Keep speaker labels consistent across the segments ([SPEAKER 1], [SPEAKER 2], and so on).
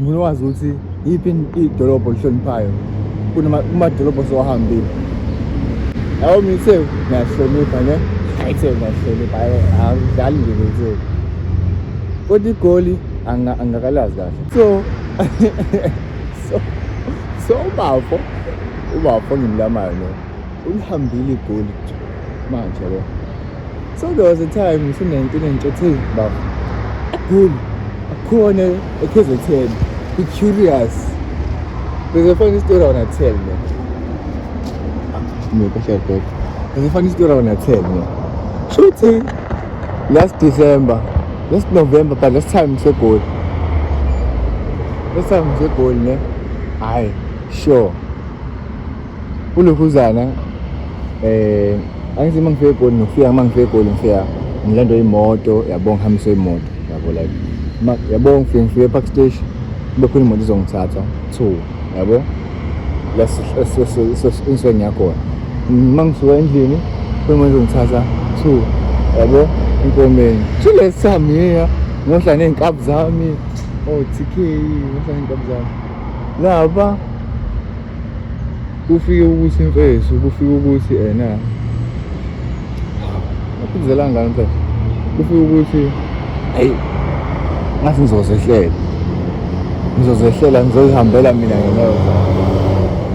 [SPEAKER 1] ngifuna wazi ukuthi yiphi idolobho olihloniphayo kumadolobho osowahambile yabo mina ithe ngiyahlonipha ne ayithe ngiyahlonipha awudlali nje bethe kodwa igoli angakalazi kahle so so so ubafo ubafo ngimlamayo no ulihambile igoli manje lo so there was a time ngise-1992 baba egoli akhona ekhezethen i-curious there's a funny story i wanna tell man ngiyokashadok there's a funny story i wanna tell man shuthi last december last november but last time ngisegoli last time ngisegoli ne hayi sure Ulokhuzana eh angithi uma ngifika egoli ngifika uma ngifika egoli ngifika ngilando imoto yabo ngihambise imoto yabo like yabo ngifike ngifike epark station kube khona imoto izongithatha two yabo lasinswe ngiyakhona uma ngisuka endlini khona imoto izongithatha two yabo inkomeni shilesami yeya ngohla ney'nkabi zami o-tk ngohla ney'nkabi zami laba kufike ukuthi imfesu kufike ukuthi ena aphindela ngani mfethu kufike ukuthi ayi ngathi ngizozehlela ngizozehlela ngizozihambela mina ngeneyo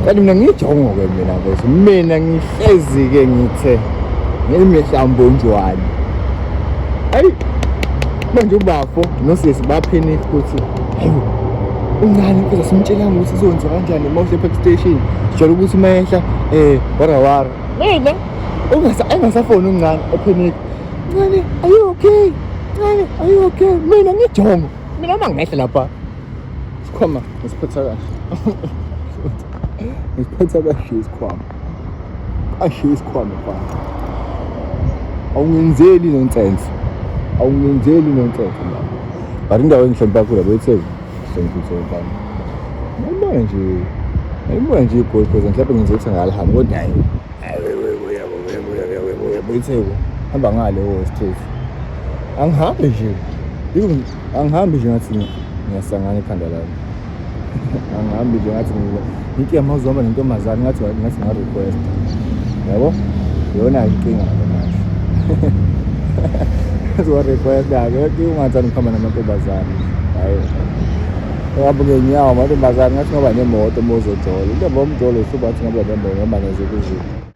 [SPEAKER 1] kanti mina ngiyijongo-ke mina mfethu mina ngihlezi-ke ngithe ngilimihlambonjwane ayi manje ubafo nosisi baphini futhi Ayo, uncane kuze simtshela ukuthi izonza kanjani uma uhle park station. Sijwayele ukuthi uma ehla eh wara wara. Mina ungasa engasafoni uncane ephenika. Ncane, are you okay? Ncane, are you okay? Mina ngijongo. Mina uma ngehla lapha. Sikhoma ngisiphatha kahle. Ngisiphatha kahle isikhwama. ashiye isikhwama mfana awungenzeli nonsense awungenzeli nonsense mfana but indawo engihlonipha kakhulu yabo etheni sengikuthi mfana noma nje ayimoya nje igoli because mhlawumbe ngenza ukuthi ngalihambi kodwa hayi uyitheko hamba ngale wo straight angihambe nje angihambe nje ngathi ngiyasangana ekhanda lami angihambi nje ngathi into yamawuze uhamba nentombazane ngathi ngathi nga-request yabo yona inkinga ke manje uzowa-requesta-ke yoke ungathanda ukuhamba namantombazane hayi uhamba ngenyawo amantombazane ngathi ngoba nemoto uma uzojola into yomjolo uhluba ngathi ngoba nemoto ngoba nezikuziphi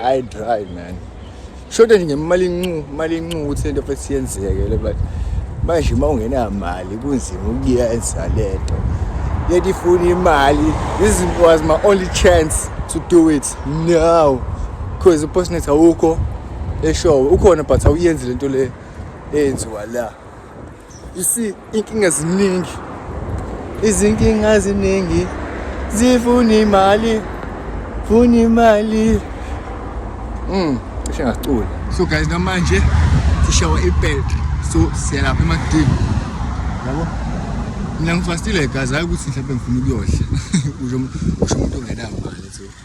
[SPEAKER 1] I dry man. Shoda nje ngemali incu, imali incu ukuthi lento futhi siyenzeke le but manje uma ungena mali kunzima ukuyenza lento. Leti ifuna imali. This was my only chance to do it now because uPostnet awukho eshowe ukhona but awuyenzi lento le eyenziwa la you see inkinga ziningi izinkinga ziningi zifuna imali funa imali mm cishe ngacula so guys namanje sishawa ibed so siyalapha emakudini yabo mina ngifastile guys hayi ukuthi mhlawumbe ngifuna ukuyodla usho umuntu ongenamali so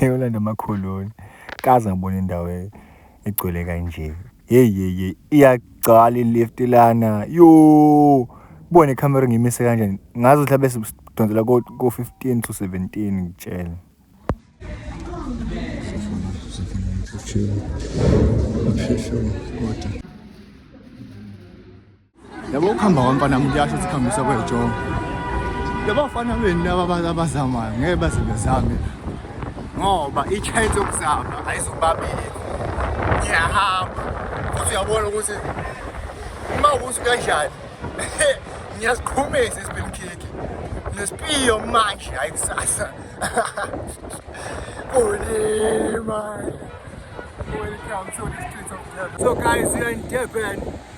[SPEAKER 1] Yolanda Makhuluni kaze ngibona indawo e-, egcwele kanje hey hey hey iyagcwala ilift lana yo kubona ikhamera ngimise kanjani ngazi ukuthi abe sidonsela ko 15 to 17 ngitshela Thank you. yabo ukuhamba kwamfana muntu yasho ukuthi khambisa kwejongo labafana benu laba abazamayo ngeke baze bezame ngoba i-chance yokuzama ayizobabili ngiyahamba futhi uyabona ukuthi uma ukuthi kanjani ngiyasiqhumisa isibilikhiki nesipiyo manje hayi kusasa kulima welcome to the streets of Durban so guys we are in Durban